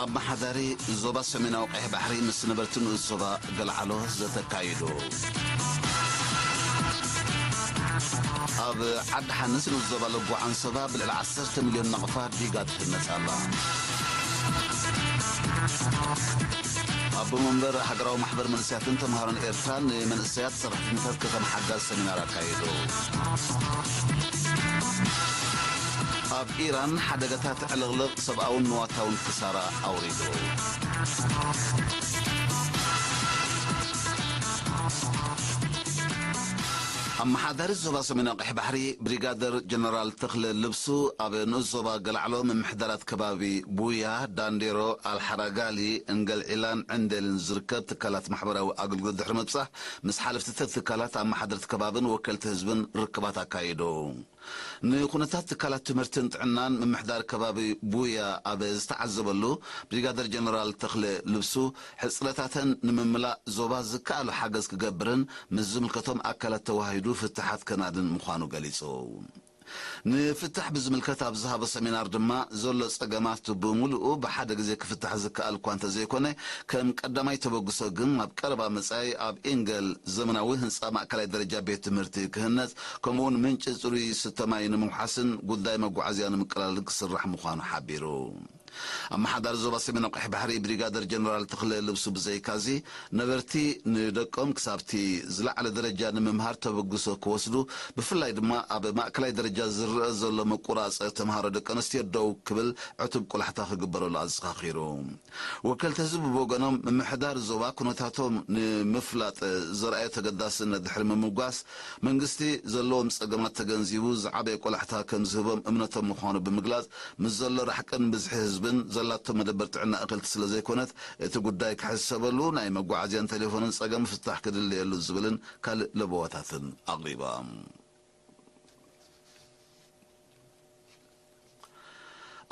ኣመሓዳሪ ዞባ ሰሜናዊ ቀይሕ ባሕሪ ምስ ነበርቲ ንኡስ ዞባ ገልዓሎ ዘተ ኣካይዱ። ኣብ ዓዲ ሓንስ ንኡስ ዞባ ለጎ ዓንሰባ ብልዕሊ 10 ሚልዮን ናቕፋ ዲጋ ትህነጽ ኣላ። ኣቦ መንበር ሃገራዊ ማሕበር መንእሰያትን ተምሃሮን ኤርትራ ንመንእሰያት ሰራሕተኛታት ከተማ ሓጋዝ ሰሚናር ኣካይዱ። ኣብ ኢራን ሓደጋታት ዕልቕልቕ ሰብኣውን ንዋታውን ክሳራ ኣውሪዱ። ኣመሓዳሪ ዞባ ሰሜናዊ ቀይሕ ባሕሪ ብሪጋደር ጀነራል ተኽለ ልብሱ ኣብ ንኡስ ዞባ ገልዓሎ ምምሕዳራት ከባቢ ቡያ፣ ዳንዴሮ፣ ኣልሓራጋሊ፣ እንገልዒላን ዕንዴልን ዝርከብ ትካላት ማሕበራዊ ኣገልግሎት ድሕሪ ምብጻሕ ምስ ሓለፍቲ ትካላት ኣመሓደርቲ ከባብን ወከልቲ ህዝብን ርክባት ኣካይዱ። ንኩነታት ትካላት ትምህርትን ጥዕናን ምምሕዳር ከባቢ ቡያ ኣብ ዝተዓዘበሉ፣ ብሪጋደር ጀነራል ተኽለ ልብሱ፣ ሕጽረታተን ንምምላእ ዞባ ዝከኣሎ ሓገዝ ክገብርን ምስ ዝምልከቶም ኣካላት ተወሃሂዱ ፍታሓት ከናድን ምዃኑ ገሊጹ። ንፍታሕ ብዝምልከት ኣብ ዝሃቦ ሰሚናር ድማ፣ ዘሎ ጸገማት ብምሉኡ ብሓደ ግዜ ክፍታሕ ዝከኣል'ኳ እንተዘይኮነ፣ ከም ቀዳማይ ተበግሶ ግን ኣብ ቀረባ መጻኢ ኣብ ኢንገል ዘመናዊ ህንጻ ማእከላይ ደረጃ ቤት ትምህርቲ ክህነጽ፣ ከምኡ'ውን ምንጪ ጽሩይ ዝስተ ማይ ንምውሓስን ጉዳይ መጓዓዝያ ንምቅላልን ክስራሕ ምዃኑ ሓቢሩ። ኣመሓዳሪ ዞባ ሰሜናዊ ቀይሕ ባሕሪ ብሪጋደር ጀነራል ተኽለ ልብሱ ብዘይካ'ዚ፣ ነበርቲ ንደቆም ክሳብ'ቲ ዝለዓለ ደረጃ ንምምሃር ተበግሶ ክወስዱ፣ ብፍላይ ድማ ኣብ ማእከላይ ደረጃ ዝርኣ ዘሎ ምቁራጽ ተመሃሮ ደቀንስትዮ ደው ክብል ዕቱብ ቆላሕታ ክግበረሉ ኣዘኻኺሩ። ወከልቲ ህዝቢ ብወገኖም፣ ምምሕዳር ዞባ ኩነታቶም ንምፍላጥ ዘርኣዮ ተገዳስነት ድሕሪ ምምጓስ፣ መንግስቲ ዘለዎም ጸገማት ተገንዚቡ ዝዓበየ ቆላሕታ ከምዝህቦም እምነቶም ምዃኑ ብምግላጽ፣ ምስ ዘሎ ራሕቅን ብዝሒ ህዝብን ዘላቶ መደበር ጥዕና እኽልቲ ስለ ዘይኮነት እቲ ጉዳይ ክሕሰበሉ፣ ናይ መጓዓዝያን ቴሌፎንን ጸገም ፍታሕ ክድለየሉ ዝብልን ካልእ ለበዋታትን ኣቕሪባ።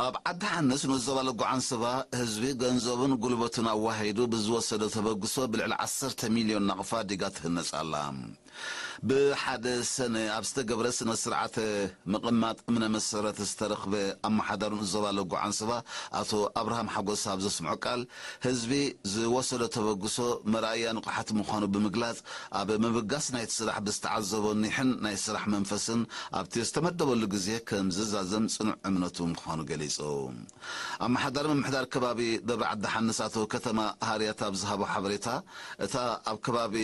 ኣብ ዓዲ ሓንስ ኑስ ዞባ ለጎ ዓንሰባ ህዝቢ ገንዘቡን ጉልበቱን ኣዋሂዱ ብዝወሰዶ ተበግሶ ብልዕሊ ዓሰርተ ሚልዮን ናቕፋ ዲጋ ትህነጽ ኣላ። ብሓደ ሰነ ኣብ ዝተገብረ ስነ ስርዓተ ምቕማጥ እምነ መሰረት ዝተረኽበ ኣመሓዳሩን ዞባ ለጎ ዓንሰባ ኣቶ ኣብርሃም ሓጎስ ኣብ ዘስምዖ ቃል ህዝቢ ዝወሰዶ ተበግሶ መርኣያ ንቕሓት ምዃኑ ብምግላፅ ኣብ ምብጋስ ናይቲ ስራሕ ብዝተዓዘቦ ኒሕን ናይ ስራሕ መንፈስን ኣብቲ ዝተመደበሉ ግዜ ከምዝዛዘም ፅኑዕ እምነቱ ምዃኑ ገሊፁ። ኣመሓዳሪ ምምሕዳር ከባቢ ደብረ ዓዲ ሓንስ ኣቶ ከተማ ሃርያት ኣብ ዝሃቦ ሓበሬታ እታ ኣብ ከባቢ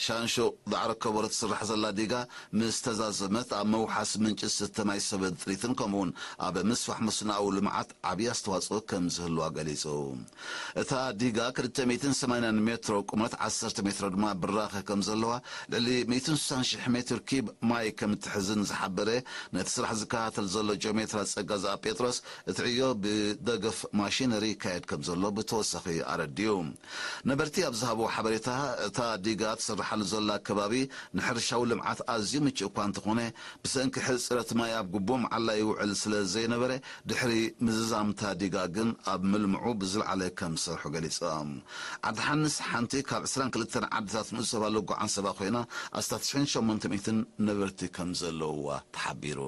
ሻንሹቕ ዳዕሮ ከበሮ ትስራሕ ዘላ ዲጋ ምስ ተዛዘመት ኣብ ምውሓስ ምንጪ ዝስተ ማይ ሰበን ጥሪትን ከምኡ'ውን ኣብ ምስፋሕ መስኖኣዊ ልምዓት ዓብዪ ኣስተዋፅኦ ከም ዝህልዋ ገሊፁ። እታ ዲጋ ክልተ ሚእትን ሰማንያን ሜትሮ ቁመት ዓሰርተ ሜትሮ ድማ ብራኸ ከም ዘለዋ ልዕሊ ሚእትን ስሳን ሽሕ ሜትር ኪዩብ ማይ ከም እትሕዝን ዝሓበረ ነቲ ስራሕ ዝከታተል ዘሎ ጂኦሜትራ ፀጋዝኣብ ጴጥሮስ እቲ ዕዮ ብደገፍ ማሽነሪ ይካየድ ከም ዘሎ ብተወሳኺ ኣረዲኡ። ነበርቲ ኣብ ዝሃብዎ ሓበሬታ፣ እታ ዲጋ ትስርሓሉ ዘላ ከባቢ ንሕርሻዊ ልምዓት ኣዝዩ ምቹእ እኳ እንተኾነ፣ ብሰንኪ ሕጽረት ማይ ኣብ ግቡእ መዓላ ይውዕል ስለ ዘይነበረ ድሕሪ ምዝዛም እታ ዲጋ ግን ኣብ ምልምዑ ብዝለዓለ ከም ዝሰርሑ ገሊጾም። ዓዲ ሓንስ ሓንቲ ካብ ዕስራን ክልተን ዓድታት ንኡስ ዞባ ሎጎ ዓንሰባ ኮይና ኣስታት ሽሕን ሸሞንተ ሚእትን ነበርቲ ከም ዘለውዋ ተሓቢሩ።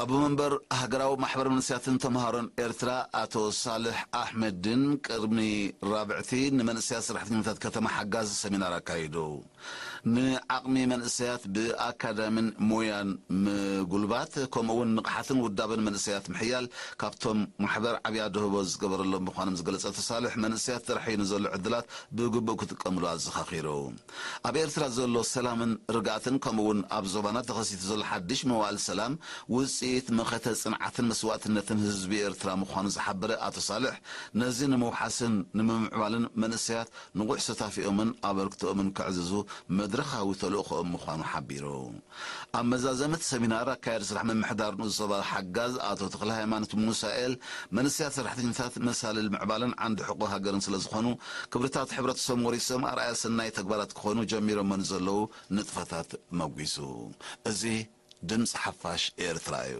ኣቦ መንበር ሃገራዊ ማሕበር መንእሰያትን ተመሃሮን ኤርትራ ኣቶ ሳልሕ ኣሕመዲን ቅድሚ ራብዕቲ ንመንእሰያት ሰራሕተኛታት ከተማ ሓጋዝ ሰሚናር ኣካይዱ ንዓቕሚ መንእሰያት ብኣካዳሚን ሞያን ምጉልባት ከምኡ እውን ንቕሓትን ውዳበን መንእሰያት ምሕያል ካብቶም ማሕበር ዓብይ ኣደህቦ ዝገበረሎም ምዃኖም ዝገለፀ ኣቶ ሳልሕ መንእሰያት ጥራሕ እዩ ንዘሎ ዕድላት ብግቡእ ክጥቀምሉ ኣዘኻኺሩ። ኣብ ኤርትራ ዘሎ ሰላምን ርግኣትን ከምኡ'ውን ኣብ ዞባና ተኸሲቱ ዘሎ ሓድሽ መዋእል ሰላም ውጽኢት መኸተ ጽንዓትን መስዋእትነትን ህዝቢ ኤርትራ ምዃኑ ዝሓበረ ኣቶ ሳልሕ፣ ነዚ ንምውሓስን ንምምዕባልን መንእሰያት ንቑሕ ሰታፊኦምን ኣበርክቶኦምን ከዕዝዙ መድረኻዊ ተልእኾኦም ምዃኑ ሓቢሩ። ኣብ መዛዘሚ እቲ ሰሚናር ኣካያዲ ስራሕ ምምሕዳር ንኡስ ዞባ ሓጋዝ ኣቶ ተኽለሃይማኖት ሙሳኤል፣ መንእሰያት ሰራሕተኛታት መሳልል ምዕባለን ዓንዲ ሕቖ ሃገርን ስለዝኾኑ ክብርታት ሕብረተሰቦም ወሪሶም ኣርኣያ ሰናይ ተግባራት ክኾኑ ጀሚሮሞ ንዘለዉ ንጥፈታት መጒሱ። እዚ ድምጺ ሓፋሽ ኤርትራ እዩ።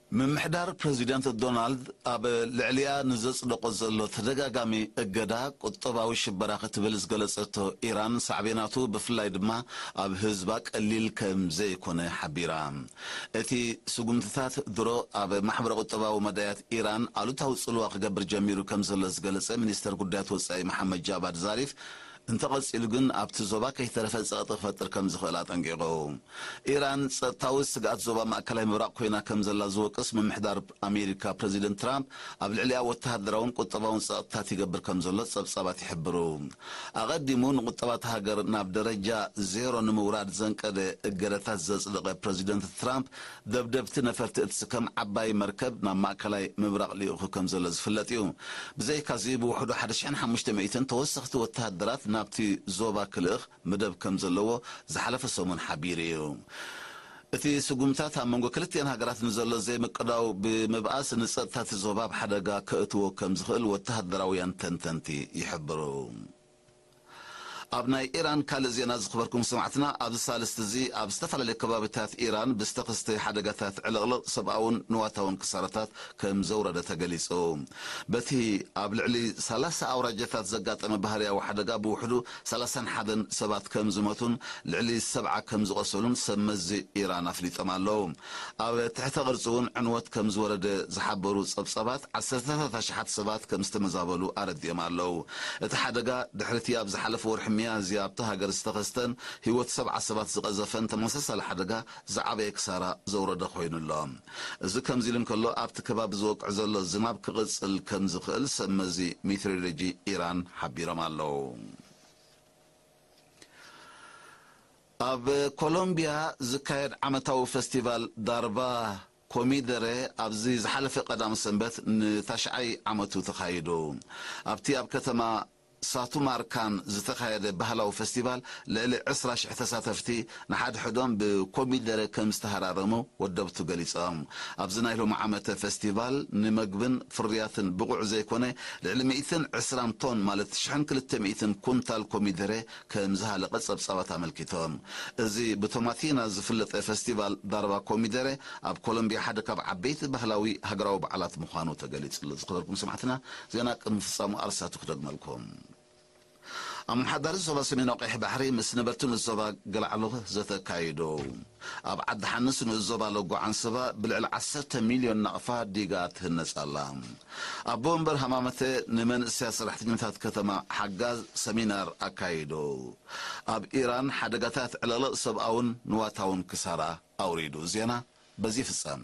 ምምሕዳር ፕረዚደንት ዶናልድ ኣብ ልዕሊኣ ንዘጽደቖ ዘሎ ተደጋጋሚ እገዳ ቁጠባዊ ሽበራ ክትብል ዝገለጸቶ ኢራን ሳዕቤናቱ ብፍላይ ድማ ኣብ ህዝባ ቀሊል ከም ዘይኮነ ሓቢራ። እቲ ስጉምትታት ድሮ ኣብ ማሕበረ ቁጠባዊ መዳያት ኢራን ኣሉታዊ ጽልዋ ክገብር ጀሚሩ ከም ዘሎ ዝገለጸ ሚኒስተር ጉዳያት ወጻኢ መሓመድ ጃቫድ ዛሪፍ እንተቐጺሉ ግን ኣብቲ ዞባ ከይተረፈ ጸቕጢ ክፈጥር ከም ዝኽእል ኣጠንቂቑ። ኢራን ጸጥታዊ ስግኣት ዞባ ማእከላይ ምብራቕ ኰይና ከም ዘላ ዝወቅስ ምምሕዳር ኣሜሪካ ፕረዚደንት ትራምፕ ኣብ ልዕሊኣ ወተሃደራውን ቍጠባውን ጸቕጥታት ይገብር ከም ዘሎ ጸብጻባት ይሕብሩ። ኣቐዲሙ ንቝጠባ እታ ሃገር ናብ ደረጃ ዜሮ ንምውራድ ዘንቀደ እገዳታት ዘጽደቐ ፕረዚደንት ትራምፕ ደብደብቲ ነፈርቲ እትስከም ዓባይ መርከብ ናብ ማእከላይ ምብራቕ ልኢኹ ከም ዘሎ ዝፍለጥ እዩ። ብዘይካዚ ብውሕዱ ሓደ ሽሕን ሓሙሽተ ሚእትን ተወሰኽቲ ወተሃደራት ናብቲ ዞባ ክልእኽ መደብ ከም ዘለዎ ዝሓለፈ ሰሙን ሓቢሩ እዩ። እቲ ስጉምትታት ኣብ መንጎ ክልቲኤን ሃገራት ንዘሎ ዘይምቅዳው ብምብኣስ ንጸጥታ እቲ ዞባ ኣብ ሓደጋ ከእትዎ ከም ዝኽእል ወተሃደራውያን ተንተንቲ ይሕብሩ። ኣብ ናይ ኢራን ካልእ ዜና ዝኽበርኩም ሰማዕትና ኣብዚ ሳልስቲ እዚ ኣብ ዝተፈላለዩ ከባቢታት ኢራን ብዝተኸስተ ሓደጋታት ዕልቕልቕ ሰብኣውን ንዋታውን ክሳራታት ከም ዘውረደ ተገሊጹ። በቲ ኣብ ልዕሊ ሰላሳ ኣውራጃታት ዘጋጠመ ባህርያዊ ሓደጋ ብውሕዱ ሰላሳን ሓደን ሰባት ከም ዝሞቱን ልዕሊ ሰብዓ ከም ዝቖሰሉን ሰብ መዚ ኢራን ኣፍሊጦም ኣለዉ። ኣብ ትሕተ ቅርጺ እውን ዕንወት ከምዝወረደ ዝሓበሩ ጸብጻባት፣ ዓሰርተታት ኣሽሓት ሰባት ከምዝተመዛበሉ ኣረዲኦም ኣለው። እቲ ሓደጋ፣ ድሕሪ'ቲ ኣብ ዝሓለፈ ወርሒ ሚያዝያ ኣብታ ሃገር ዝተኸስተን ህይወት ሰብዓ ሰባት ዝቐዘፈን ተመሳሳሊ ሓደጋ ዝዓበየ ክሳራ ዘውረደ ኮይኑ ኣሎ። እዚ ከምዚ'ሉ እንከሎ፣ ኣብቲ ከባቢ ዝወቅዕ ዘሎ ዝናብ ክቕጽል ከምዝኽእል ሰብመዚ ሜትሮሎጂ ኢራን ሓቢሮም ኣለው። ኣብ ኮሎምቢያ ዝካየድ ዓመታዊ ፈስቲቫል ዳርባ ኮሚደረ ኣብዚ ዝሓለፈ ቀዳም ሰንበት ንታሽዓይ ዓመቱ ተኻይዱ። ኣብቲ ኣብ ከተማ ሳቱማርካን ዝተኻየደ ባህላዊ ፈስቲቫል ልዕሊ ዕስራ ሽሕ ተሳተፍቲ ንሓድሕዶም ብኮሚደረ ከምዝተሃራረሙ ወደብቱ ገሊጾም። ኣብዚ ናይ ሎሚ ዓመተ ፈስቲቫል ንመግብን ፍርያትን ብቑዕ ዘይኮነ ልዕሊ ሚእትን ዕስራን ቶን ማለት ሽሕን ክልተ ሚእትን ኩንታል ኮሚደረ ከም ዝሃለቐ ጸብጻባት ኣመልኪቶም። እዚ ብቶማቲና ዝፍለጠ ፈስቲቫል ዳርባ ኮሚደረ ኣብ ኮሎምቢያ ሓደ ካብ ዓበይቲ ባህላዊ ሃገራዊ በዓላት ምዃኑ ተገሊጹ ኣሎ። ዝኸበርኩም ሰማዕትና ዜና ቅድሚ ምፍጻሙ ኣርእስታቱ ክደግመልኩም። ኣመሓዳሪ ዞባ ሰሜናዊ ቀይሕ ባሕሪ ምስ ነበርቲ ንኡስ ዞባ ገላዕሉ ዘተ ኣካይዱ። ኣብ ዓዲ ሓንስ ንኡስ ዞባ ለጎ ዓንሰባ ብልዕሊ ዓሰርተ ሚልዮን ናቕፋ ዲጋ ትህነጽ ኣላ። ኣቦ መንበር ሃማመተ ንመንእሰያት ሰራሕተኛታት ከተማ ሓጋዝ ሰሚናር ኣካይዱ። ኣብ ኢራን ሓደጋታት ዕልቕልቕ ሰብኣውን ንዋታውን ክሳራ ኣውሪዱ። ዜና በዚ ይፍጸም።